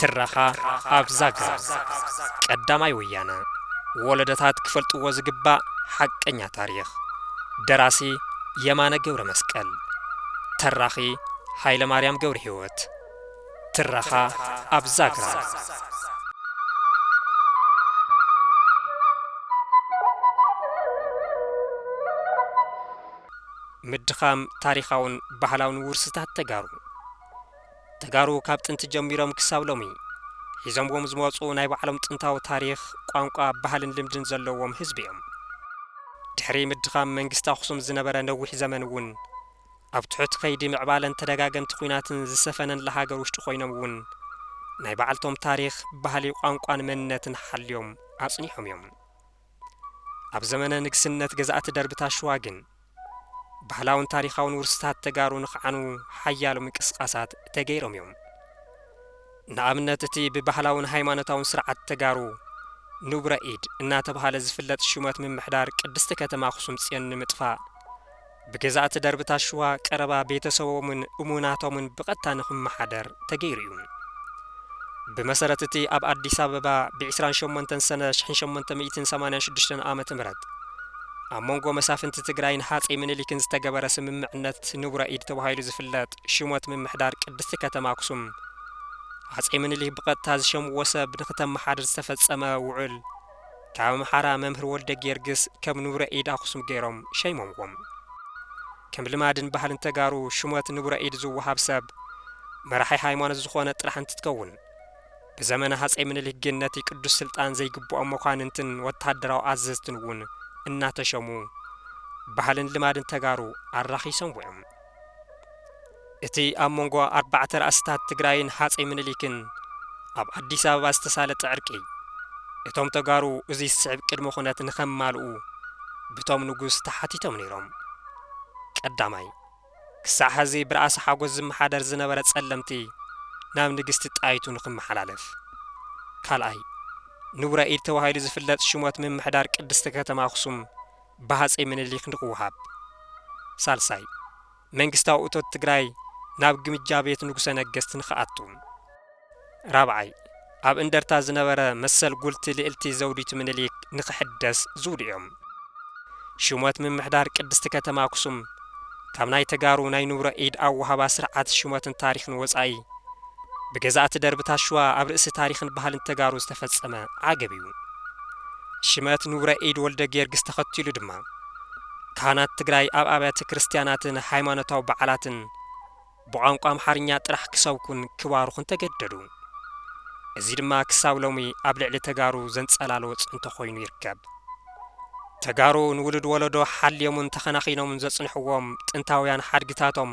ትረኻ ኣብ ዛግራ ቀዳማይ ወያነ ወለደታት ክፈልጥዎ ዝግባእ ሓቀኛ ታሪኽ ደራሲ የማነ ገብረ መስቀል ተራኺ ሃይለ ማርያም ገብረ ህይወት ትረኻ ኣብ ዛግራ። ምድኻም ታሪኻውን ባህላውን ውርስታት ተጋሩ ተጋሩ ካብ ጥንቲ ጀሚሮም ክሳብ ሎሚ ሒዞምዎም ዝመፁ ናይ ባዕሎም ጥንታዊ ታሪኽ፣ ቋንቋ፣ ባህልን ልምድን ዘለዎም ህዝቢ እዮም። ድሕሪ ምድኻም መንግስቲ ኣኽሱም ዝነበረ ነዊሕ ዘመን እውን ኣብ ትሑት ከይዲ ምዕባለን ተደጋገምቲ ኩናትን ዝሰፈነንላ ሃገር ውሽጢ ኮይኖም እውን ናይ ባዕልቶም ታሪኽ፣ ባህሊ፣ ቋንቋን መንነትን ሓልዮም ኣፅኒሖም እዮም። ኣብ ዘመነ ንግስነት ገዛእቲ ደርብታት ሽዋ ግን ባህላውን ታሪኻውን ውርስታት ተጋሩ ንክዓኑ ሓያሎ ምንቅስቃሳት ተገይሮም እዮም። ንኣብነት እቲ ብባህላውን ሃይማኖታውን ስርዓት ተጋሩ ንቡረ ኢድ እናተብሃለ ዝፍለጥ ሹመት ምምሕዳር ቅድስቲ ከተማ ኣኽሱም ፅዮን ንምጥፋእ ብገዛእቲ ደርብታት ሽዋ ቀረባ ቤተሰቦምን እሙናቶምን ብቐጥታ ንኽመሓደር ተገይሩ እዩ። ብመሰረት እቲ ኣብ ኣዲስ ኣበባ ብ ዕስራን ሸሞንተን ሰነ ሽሕን ሸሞንተ ሚእትን ሰማንያን ሽዱሽተን ዓመተ ምህረት ኣብ መንጎ መሳፍንቲ ትግራይን ሃፀይ ምኒሊክን ዝተገበረ ስምምዕነት ንቡረ ኢድ ተባሂሉ ዝፍለጥ ሽሞት ምምሕዳር ቅድስቲ ከተማ ኣክሱም ሃፀይ ምኒሊክ ብቐጥታ ዝሸምዎ ሰብ ንኽተመሓድር ዝተፈፀመ ውዑል ካብ ኣምሓራ መምህር ወልደጊዮርግስ ከም ንቡረ ኢድ ኣኹሱም ገይሮም ሸይሞምዎም። ከም ልማድን ባህልን ተጋሩ ሹመት ንቡረ ኢድ ዝወሃብ ሰብ መራሒ ሃይማኖት ዝኾነ ጥራሕ እንትትከውን ብዘመነ ሃፀይ ምንሊክ ግን ነቲ ቅዱስ ስልጣን ዘይግበኦም መኳንንትን ወታደራዊ ኣዘዝትን እውን እናተሸሙ ባህልን ልማድን ተጋሩ ኣራኺሶምዎ እዮም። እቲ ኣብ መንጎ ኣርባዕተ ራእስታት ትግራይን ሃፀይ ምኒሊክን ኣብ ኣዲስ ኣበባ ዝተሳለጠ ዕርቂ እቶም ተጋሩ እዙይ ዝስዕብ ቅድመ ኩነት ንከማልኡ ብቶም ንጉስ ተሓቲቶም ነይሮም። ቀዳማይ፣ ክሳዕ ሐዚ ብራእሲ ሓጎስ ዝመሓደር ዝነበረ ፀለምቲ ናብ ንግስቲ ጣይቱ ንክመሓላለፍ። ካልኣይ፣ ንቡረ ኢድ ተባሂሉ ዝፍለጥ ሹመት ምምሕዳር ቅድስቲ ከተማ ኣክሱም ብሃፀይ ምንሊክ ንክወሃብ። ሳልሳይ፣ መንግስታዊ እቶት ትግራይ ናብ ግምጃ ቤት ንጉሰ ነገስት ንክኣቱ። ራብዓይ፣ ኣብ እንደርታ ዝነበረ መሰል ጉልቲ ልእልቲ ዘውዲቱ ምንሊክ ንክሕደስ ዝብሉ እዮም። ሹመት ምምሕዳር ቅድስቲ ከተማ ኣክሱም። ካብ ናይ ተጋሩ ናይ ንብሮ ኢድ ኣወሃባ ስርዓት ሹመትን ታሪኽን ወጻኢ ብገዛእቲ ደርብታት ሽዋ ኣብ ርእሲ ታሪኽን ባህልን ተጋሩ ዝተፈጸመ ዓገብ እዩ። ሽመት ንብረ ኢድ ወልደጊዮርጊስ ተኸቲሉ ድማ ካህናት ትግራይ ኣብ ኣብያተ ክርስትያናትን ሃይማኖታዊ በዓላትን፣ ብቋንቋ ኣምሓርኛ ጥራሕ ክሰብኩን ክባርኹን ተገደዱ። እዚ ድማ ክሳብ ሎሚ ኣብ ልዕሊ ተጋሩ ዘንፀላለወ ፅንቶ ኮይኑ ይርከብ። ተጋሩ ንውሉድ ወለዶ ሓልዮምን ተኸናኺኖምን ዘፅንሕዎም ጥንታውያን ሓድግታቶም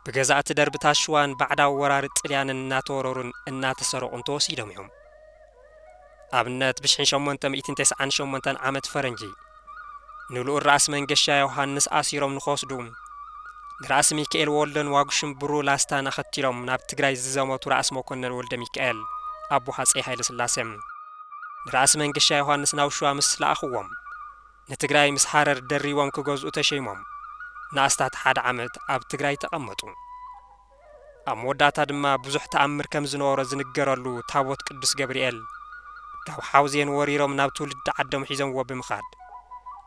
ብገዛእቲ ደርብታት ሽዋን ባዕዳዊ ወራሪ ጥልያንን እናተወረሩን እናተሰረቑን ተወሲዶም እዮም። ኣብነት ብሽሕን ሸሞንተ ሚእትን ተስዓን ሸሞንተን ዓመት ፈረንጂ ንልኡል ራእሲ መንገሻ ዮሃንስ ኣሲሮም ንክወስዱ ንራእሲ ሚካኤል ወልደን ዋጉሽም ብሩ ላስታን ኣኸቲሎም ናብ ትግራይ ዝዘመቱ ራእሲ መኮነን ወልደ ሚካኤል ኣቦ ሃፀይ ሃይለስላሴ ንራእሲ መንገሻ ዮሃንስ ናብ ሸዋ ምስ ለኣኽዎም ንትግራይ ምስ ሃረር ደሪቦም ክገዝኡ ተሸይሞም ንኣስታት ሓደ ዓመት ኣብ ትግራይ ተቐመጡ። ኣብ መወዳእታ ድማ ብዙሕ ተኣምር ከም ዝነበሮ ዝንገረሉ ታቦት ቅዱስ ገብርኤል ካብ ሓውዜን ወሪሮም ናብ ትውልዲ ዓዶም ሒዞምዎ ብምኻድ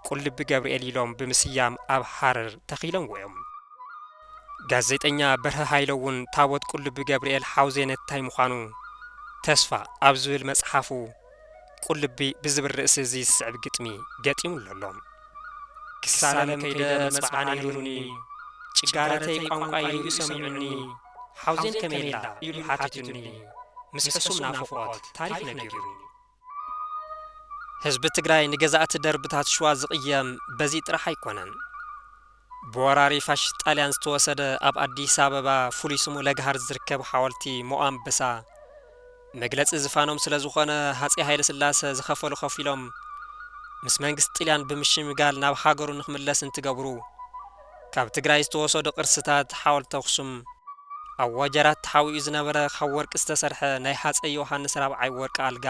ቁልቢ ገብርኤል ኢሎም ብምስያም ኣብ ሃረር ተኺሎምዎ እዮም። ጋዜጠኛ በርሀ ሃይለ እውን ታቦት ቁልቢ ገብርኤል ሓውዜን እታይ ምዃኑ ተስፋ ኣብ ዝብል መፅሓፉ፣ ቁልቢ ብዝብል ርእሲ እዚ ዝስዕብ ግጥሚ ገጢሙሉ ኣሎ። ክሳለም ከይደ መጽብዓን ኢሉኒ፣ ጭጋረተይ ቋንቋይ ርእዩ ሰሚዑኒ፣ ሓውዜን ከመይ'ላ ኢሉ ሓቲቱኒ፣ ምስ ሕሱም ናፍቖት ታሪኽ ነጊሩኒ። ህዝቢ ትግራይ ንገዛእቲ ደርብታት ሽዋ ዝቕየም በዚ ጥራሕ ኣይኮነን። ብወራሪ ፋሽስት ጣልያን ዝተወሰደ ኣብ ኣዲስ ኣበባ ፍሉይ ስሙ ለገሃር ዝርከብ ሓወልቲ ሞኣንበሳ መግለፂ ዝፋኖም ስለዝኾነ ሃፄ ሃይለስላሰ ዝኸፈሉ ከፊሎም ምስ መንግስቲ ጥልያን ብምሽምጋል ናብ ሃገሩ ንክምለስ እንትገብሩ ካብ ትግራይ ዝተወሰዱ ቅርስታት ሓወልቲ ኣክሱም ኣብ ወጀራት ተሓቢኡ ዝነበረ ካብ ወርቂ ዝተሰርሐ ናይ ሃፀይ ዮሃንስ ራብዓይ ወርቂ ኣልጋ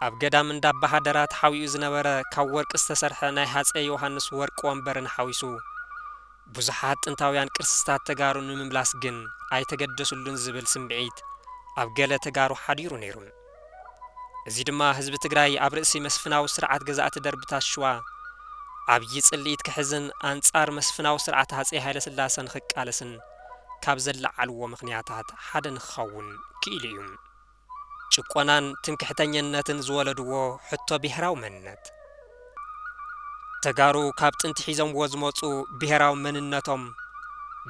ኣብ ገዳም እንዳባሃደራ ተሓዊኡ ዝነበረ ካብ ወርቂ ዝተሰርሐ ናይ ሃፀይ ዮሃንስ ወርቂ ወንበርን ሓዊሱ ብዙሓት ጥንታውያን ቅርስታት ተጋሩ ንምምላስ ግን ኣይተገደስሉን ዝብል ስምዒት ኣብ ገለ ተጋሩ ሓዲሩ ነይሩ። እዚ ድማ ህዝቢ ትግራይ ኣብ ርእሲ መስፍናዊ ስርዓት ገዛእቲ ደርብታት ሽዋ ዓብዪ ፅልኢት ክሕዝን ኣንፃር መስፍናዊ ስርዓት ሃፀይ ሃይለስላሰ ንክቃለስን ካብ ዘለዓልዎ ምኽንያታት ሓደ ንክኸውን ክኢሉ እዩ። ጭቆናን ትምክሕተኘነትን ዝወለድዎ ሕቶ ብሄራዊ መንነት። ተጋሩ ካብ ጥንቲ ሒዞምዎ ዝመፁ ብሄራዊ መንነቶም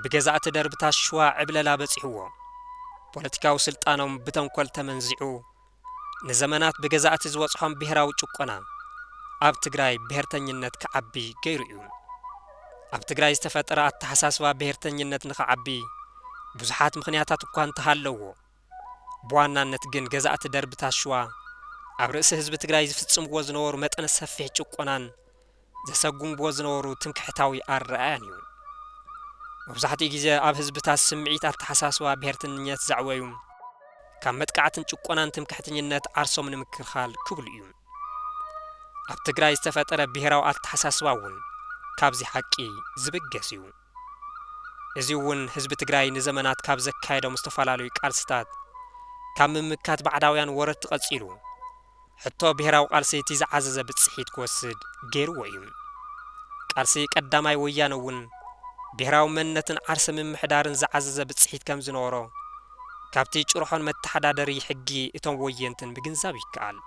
ብገዛእቲ ደርብታት ሽዋ ዕብለላ በፂሕዎ፣ ፖለቲካዊ ስልጣኖም ብተንኮል ተመንዚዑ ንዘመናት ብገዛእቲ ዝበፅሖም ብሄራዊ ጭቆና ኣብ ትግራይ ብሄርተኝነት ክዓቢ ገይሩ እዩ። ኣብ ትግራይ ዝተፈጠረ ኣተሓሳስባ ብሄርተኝነት ንክዓቢ ብዙሓት ምኽንያታት እኳ እንተሃለዎ፣ ብዋናነት ግን ገዛእቲ ደርብታት ሽዋ ኣብ ርእሲ ህዝቢ ትግራይ ዝፍጽምዎ ዝነበሩ መጠነ ሰፊሕ ጭቆናን ዘሰጉምዎ ዝነበሩ ትምክሕታዊ ኣረኣእያን እዩ። መብዛሕትኡ ግዜ ኣብ ህዝብታት ስምዒት ኣተሓሳስባ ብሄርተኝነት ዘዕወዩ ካብ መጥቃዕትን ጭቆናን ትምክሕተኝነት ዓርሶም ንምክልኻል ክብሉ እዩ። ኣብ ትግራይ ዝተፈጠረ ብሄራዊ ኣተሓሳስባ እውን ካብዚ ሓቂ ዝብገስ እዩ። እዚ እውን ህዝቢ ትግራይ ንዘመናት ካብ ዘካየዶም ዝተፈላለዩ ቃልስታት ካብ ምምካት ባዕዳውያን ወረርቲ ቀፂሉ ሕቶ ብሄራዊ ቃልሲ እቲ ዝዓዘዘ ብፅሒት ክወስድ ገይርዎ እዩ። ቃልሲ ቀዳማይ ወያነ እውን ብሄራዊ መንነትን ዓርሰ ምምሕዳርን ዝዓዘዘ ብፅሒት ከምዝነበሮ ካብቲ ጭርሖን መተሓዳደሪ ሕጊ እቶም ወየንትን ምግንዛብ ይከኣል።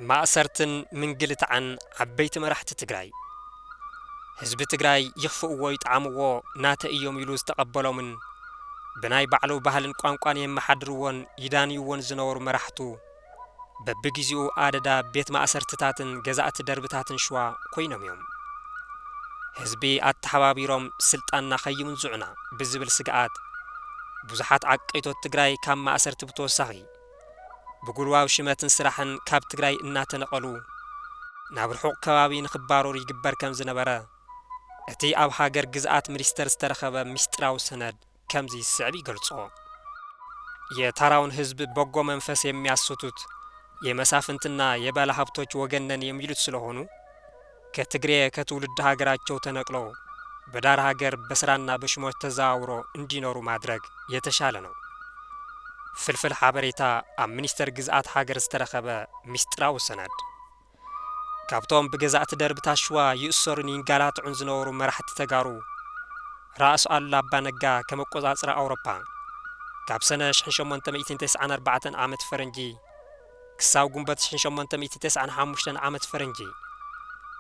ማእሰርትን ምንግልታዕን ዓበይቲ መራሕቲ ትግራይ ህዝቢ ትግራይ ይኽፍእዎ ይጥዓምዎ ናተይ እዮም ኢሉ ዝተቐበሎምን ብናይ ባዕሉ ባህልን ቋንቋን የመሓድርዎን ይዳንይዎን ዝነበሩ መራሕቱ በብጊዜኡ ኣደዳ ቤት ማእሰርትታትን ገዛእቲ ደርብታትን ሽዋ ኮይኖም እዮም። ህዝቢ ኣተሓባቢሮም ስልጣንና ከይምንዝዑና ብዝብል ስግኣት ብዙሓት ዓቀይቶት ትግራይ ካብ ማእሰርቲ ብተወሳኺ ብጉልባብ ሽመትን ስራሕን ካብ ትግራይ እናተነቐሉ ናብ ርሑቕ ከባቢ ንክባረሩ ይግበር ከምዝነበረ እቲ ኣብ ሃገር ግዝኣት ምኒስተር ዝተረኸበ ሚስጢራዊ ሰነድ ከምዚ ዝስዕብ ይገልጾ። የታራውን ህዝብ በጎ መንፈስ የሚያስቱት የመሳፍንትና የባለሃብቶች ወገን ነን የሚሉት ስለሆኑ፣ ከትግሬ ከትውልድ ሃገራቸው ተነቅሎ በዳር ሃገር በስራና በሽሞች ተዘዋውሮ እንዲኖሩ ማድረግ የተሻለ ነው። ፍልፍል ሓበሬታ ኣብ ሚኒስተር ግዝኣት ሃገር ዝተረኸበ ሚስጢራዊ ሰነድ። ካብቶም ብገዛእቲ ደርብታት ሽዋ ይእሰሩን ይንጋላትዑን ዝነበሩ መራሕቲ ተጋሩ ራእስ ኣሉላ ኣባ ነጋ ከም ኣቆጻጽራ ኣውሮፓ ካብ ሰነ ሽሕን ሸሞንተ ሚእትን ተስዓን ኣርባዕተን ዓመት ፈረንጂ ክሳብ ጉንበት ሽሕን ሸሞንተ ሚእቲ ተስዓን ሓሙሽተን ዓመት ፈረንጂ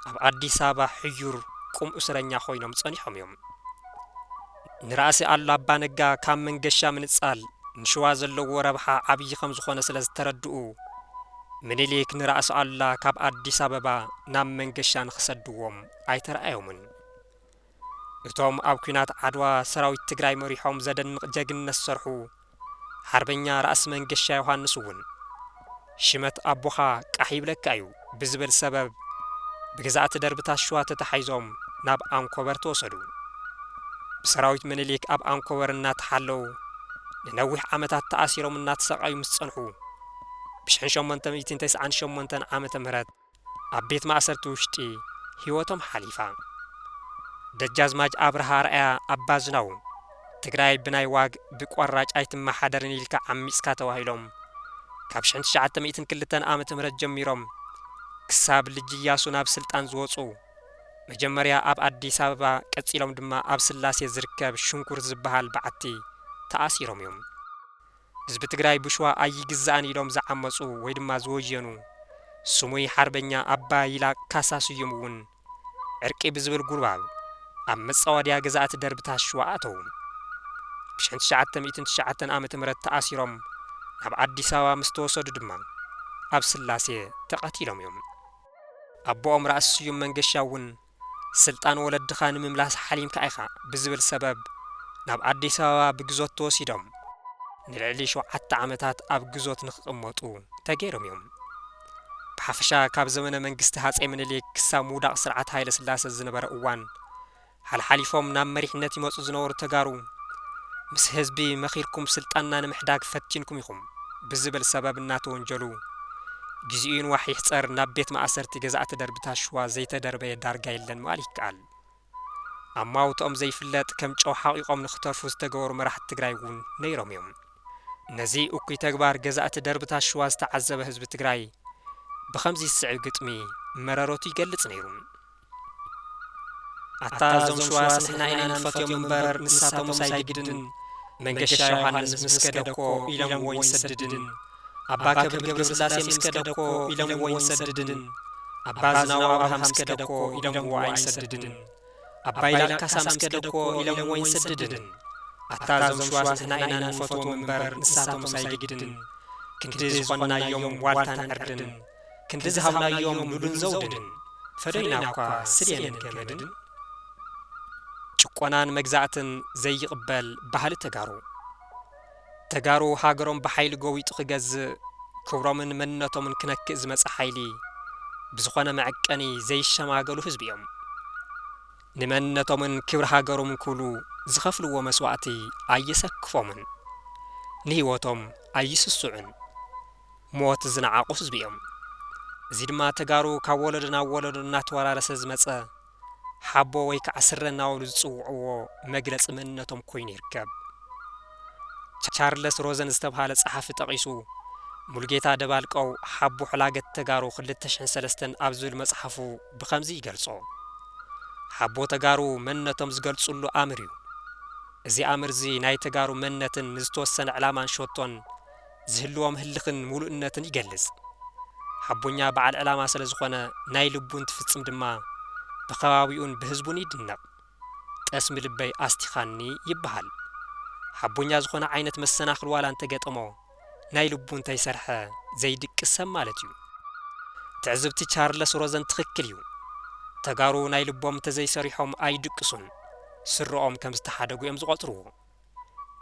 ኣብ ኣዲስ ኣበባ ሕዩር ቁም እሱረኛ ኮይኖም ጸኒሖም እዮም። ንራእሲ ኣሉላ ኣባ ነጋ ካብ መንገሻ ምንጻል ንሽዋ ዘለዎ ረብሓ ዓብዪ ከም ዝኾነ ስለ ዝተረድኡ ምኒሊክ ንራእሲ ኣሉላ ካብ ኣዲስ ኣበባ ናብ መንገሻ ንኽሰድዎም ኣይተራኣዮምን። እቶም ኣብ ኩናት ዓድዋ ሰራዊት ትግራይ መሪሖም ዘደንቅ ጀግንነት ዝሰርሑ ሓርበኛ ራእሲ መንገሻ ዮሃንስ እውን ሽመት ኣቦኻ ቃሕ ይብለካ እዩ ብዝብል ሰበብ ብገዛእቲ ደርብታት ሽዋ ተታሒዞም ናብ ኣንኮበር ተወሰዱ። ብሰራዊት ምኒሊክ ኣብ ኣንኮበር እናተሓለው ንነዊሕ ዓመታት ተኣሲሮም እናተሰቃዩ ምስ ፀንሑ ብሽሕን ሸሞንተ ሚእትን ተስዓን ሸሞንተን ዓመተ ምህረት ኣብ ቤት ማእሰርቲ ውሽጢ ህይወቶም ሓሊፋ። ደጃዝማች ኣብርሃ ኣርኣያ ኣባዝናዉ፣ ትግራይ ብናይ ዋግ ብቆራጭ ኣይትመሓደርን ኢልካ ዓሚፅካ ተባሂሎም ካብ ሽሕን ትሽዓተ ሚእትን ክልተን ዓመተ ምህረት ጀሚሮም ክሳብ ልጅ እያሱ ናብ ስልጣን ዝወፁ መጀመርያ ኣብ ኣዲስ ኣበባ ቀፂሎም ድማ ኣብ ስላሴ ዝርከብ ሽንኩርት ዝበሃል በዓቲ ተኣሲሮም እዮም። ህዝቢ ትግራይ ብሽዋ ኣይግዛእን ኢሎም ዝዓመፁ ወይ ድማ ዝወየኑ ስሙይ ሓርበኛ ኣባ ይላ ካሳ ስዩም እውን ዕርቂ ብዝብል ጉልባብ ኣብ መፃወድያ ገዛእቲ ደርብታት ሽዋ ኣተዉ። ብ ሽሕን ትሽዓተ ሚእትን ትሽዓተን ዓመተ ምህረት ተኣሲሮም ናብ ኣዲስ ኣበባ ምስ ተወሰዱ ድማ ኣብ ስላሴ ተቐቲሎም እዮም። ኣቦኦም ራእሲ ስዩም መንገሻ እውን ስልጣን ወለድኻ ንምምላስ ሓሊምካ ኢኻ ብዝብል ሰበብ ናብ ኣዲስ ኣበባ ብግዞት ተወሲዶም ንልዕሊ ሸውዓተ ዓመታት ኣብ ግዞት ንክቕመጡ ተገይሮም እዮም። ብሓፈሻ ካብ ዘመነ መንግስቲ ሃፀይ ምኒልክ ክሳብ ምውዳቕ ስርዓት ሃይለስላሰ ዝነበረ እዋን ሓልሓሊፎም ናብ መሪሕነት ይመፁ ዝነበሩ ተጋሩ ምስ ህዝቢ መኺርኩም ስልጣንና ንምሕዳግ ፈቲንኩም ኢኹም። ብዝብል ሰበብ እናተወንጀሉ፣ ግዚኡ ይንዋሕ ይሕጸር ናብ ቤት ማእሰርቲ ገዛእቲ ደርብታት ሽዋ ዘይተደርበየ ዳርጋ የለን ምባል ይከኣል። ኣማውትኦም ዘይፍለጥ ከም ጨው ሓቒቖም ንኽተርፉ ዝተገበሩ መራሕቲ ትግራይ እውን ነይሮም እዮም። ነዚ እኩይ ተግባር ገዛእቲ ደርብታት ሽዋ ዝተዓዘበ ህዝቢ ትግራይ ብኸምዚ ዝስዕብ ግጥሚ መረረቱ ይገልጽ ነይሩ። ኣታ እዞም ሽዋስ ንሕና ኢና ንፈትዮም እምበር ንሳቶምስ ኣይግድን መንገሻ ዮሃንስ ምስ ከደ እኮ ኢሎምዎ ይንሰድድን ኣባ ከብድ ገብረስላሴ ምስ ከደ እኮ ኢሎምዎ ይንሰድድን ኣባ ዝናው ኣብርሃ ምስ ከደ እኮ ኢሎምዎ ኣይንሰድድን ኣባ ይላቅ ካሳ ምስ ከደ እኮ ኢሎምዎ ይንሰድድን ኣታ እዞም ሽዋስ ንሕና ኢና ንፈትዎም እምበር ንሳቶምስ ኣይግድን ክንዲ ዝኾንናዮም ዋልታን ዕርድን ክንዲ ዝሃብናዮም ሉልን ዘውድን ፈዶይና እኳ ስልየንን ገመድን ጭቆናን መግዛእትን ዘይቕበል ባህሊ ተጋሩ ተጋሩ ሃገሮም ብሓይሊ ጎዊጡ ክገዝእ ክብሮምን መንነቶምን ክነክእ ዝመጸ ሓይሊ ብዝኾነ መዐቀኒ ዘይሸማገሉ ህዝቢ እዮም። ንመንነቶምን ክብሪ ሃገሮምን ክብሉ ዝኸፍልዎ መስዋእቲ ኣየሰክፎምን። ንህይወቶም ኣይስስዑን። ሞት ዝነዓቑ ህዝቢ እዮም። እዚ ድማ ተጋሩ ካብ ወለዶ ናብ ወለዶ እናተወራረሰ ዝመፀ ሓቦ ወይ ከዓ ስረ እናበሉ ዝፅውዕዎ መግለፂ መንነቶም ኮይኑ ይርከብ። ቻርለስ ሮዘን ዝተብሃለ ፀሓፊ ጠቒሱ ሙሉጌታ ደባልቀው ሓቦ ሕላገት ተጋሩ ክልተ ሽሕን ሰለስተን ኣብ ዝብል መፅሓፉ ብኸምዚ ይገልፆ። ሓቦ ተጋሩ መንነቶም ዝገልፅሉ ኣምር እዩ። እዚ ኣምር እዚ ናይ ተጋሩ መንነትን ንዝተወሰነ ዕላማን ሸቶን ዝህልዎም ህልኽን ሙሉእነትን ይገልጽ። ሓቦኛ በዓል ዕላማ ስለ ዝኾነ ናይ ልቡ እንትፍጽም ድማ ብከባቢኡን ብህዝቡን ይድነቕ። ጠስሚ ልበይ ኣስቲኻኒ ይበሃል። ሓቦኛ ዝኾነ ዓይነት መሰናኽል ዋላ እንተገጠሞ ናይ ልቡ እንተይሰርሐ ዘይድቅስ ሰብ ማለት እዩ። ትዕዝብቲ ቻርለስ ሮዘን ትኽክል እዩ። ተጋሩ ናይ ልቦም እንተዘይሰሪሖም ኣይድቅሱን። ስረኦም ከም ዝተሓደጉ እዮም ዝቖጽርዎ።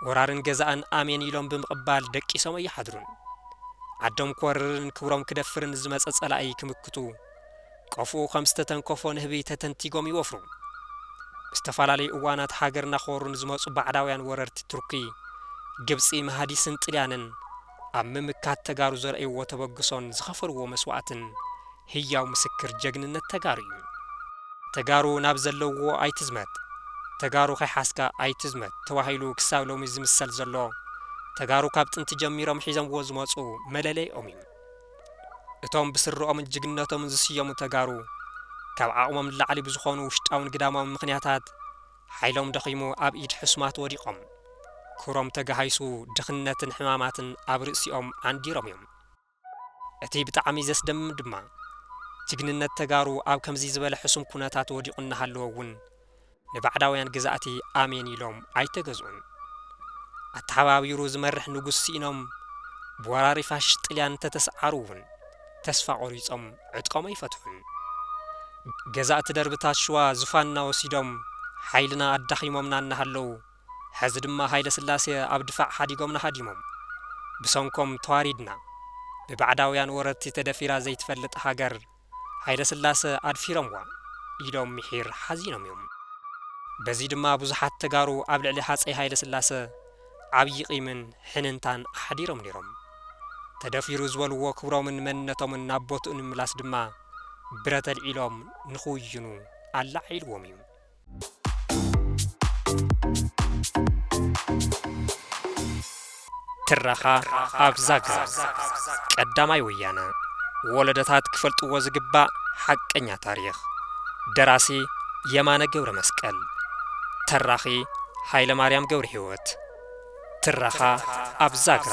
ወራርን ገዛእን ኣሜን ኢሎም ብምቕባል ደቂሶም ኣይሓድሩን። ዓዶም ክወርርን ክብሮም ክደፍርን ዝመጸ ጸላኢ ክምክቱ ቆፎኡ ከም ዝተተንከፎ ንህቢ ተተንቲጎም ይወፍሩ። ብዝተፈላለዩ እዋናት ሃገርና ክወሩ ንዝመጹ ባዕዳውያን ወረርቲ ቱርኪ፣ ግብጺ፣ መሃዲስን ጥልያንን፣ ኣብ ምምካት ተጋሩ ዘርእይዎ ተበግሶን ዝኸፈልዎ መስዋእትን ህያው ምስክር ጀግንነት ተጋሩ እዩ። ተጋሩ ናብ ዘለውዎ ኣይትዝመት፣ ተጋሩ ከይሓዝካ ኣይትዝመት ተባሂሉ ክሳብ ሎሚ ዝምሰል ዘሎ ተጋሩ ካብ ጥንቲ ጀሚሮም ሒዘምዎ ዝመፁ መለለይኦም እዩ። እቶም ብስረኦምን ጅግንነቶምን ዝስየሙ ተጋሩ ካብ ዓቕሞም ንላዕሊ ብዝኾኑ ውሽጣውን ግዳማውን ምኽንያታት፣ ሓይሎም ደኺሙ ኣብ ኢድ ሕሱማት ወዲቖም። ክብሮም ተጋሃይሱ ድኽነትን ሕማማትን ኣብ ርእሲኦም ኣንዲሮም እዮም። እቲ ብጣዕሚ ዘስደምም ድማ ጅግንነት ተጋሩ ኣብ ከምዚ ዝበለ ሕሱም ኩነታት ወዲቑ እናሃለወ እውን ንባዕዳውያን ገዛእቲ ኣሜን ኢሎም ኣይተገዝኡን። ኣተሓባቢሩ ዝመርሕ ንጉስ ስኢኖም ብወራሪ ፋሽስት ጥልያን እንተተስዓሩ እውን፣ ተስፋ ቆሪጾም ዕጥቆም ኣይፈትሑን። ገዛእቲ ደርብታት ሽዋ ዙፋንና ወሲዶም ሓይልና ኣዳኺሞምና እናሃለዉ ሐዚ ድማ ሃይለስላሴ ኣብ ድፋዕ ሓዲጎምና ሃዲሞም ብሰንኮም ተዋሪድና ብባዕዳውያን ወረርቲ ተደፊራ ዘይትፈልጥ ሃገር ሃይለስላሰ ኣድፊሮምዋ ኢሎም ሚሒር ሓዚኖም እዮም። በዚ ድማ ብዙሓት ተጋሩ ኣብ ልዕሊ ሃጸይ ሃይለስላሰ ዓብዪ ቂምን ሕንንታን ኣሕዲሮም ነይሮም። ተደፊሩ ዝበልዎ ክብሮምን መንነቶምን ናብ ቦትኡ ንምምላስ ድማ ብረት ኣልዒሎም ንክውይኑ ኣለዓዒልዎም እዩ። ትረኻ ኣብ ዛግራ ቀዳማይ ወያነ ወለዶታት ክፈልጥዎ ዝግባእ ሓቀኛ ታሪኽ ደራሲ የማነ ገብረመስቀል ተራኺ ሃይለማርያም ገብርሂወት ትረኻ ኣብ ዛግራ።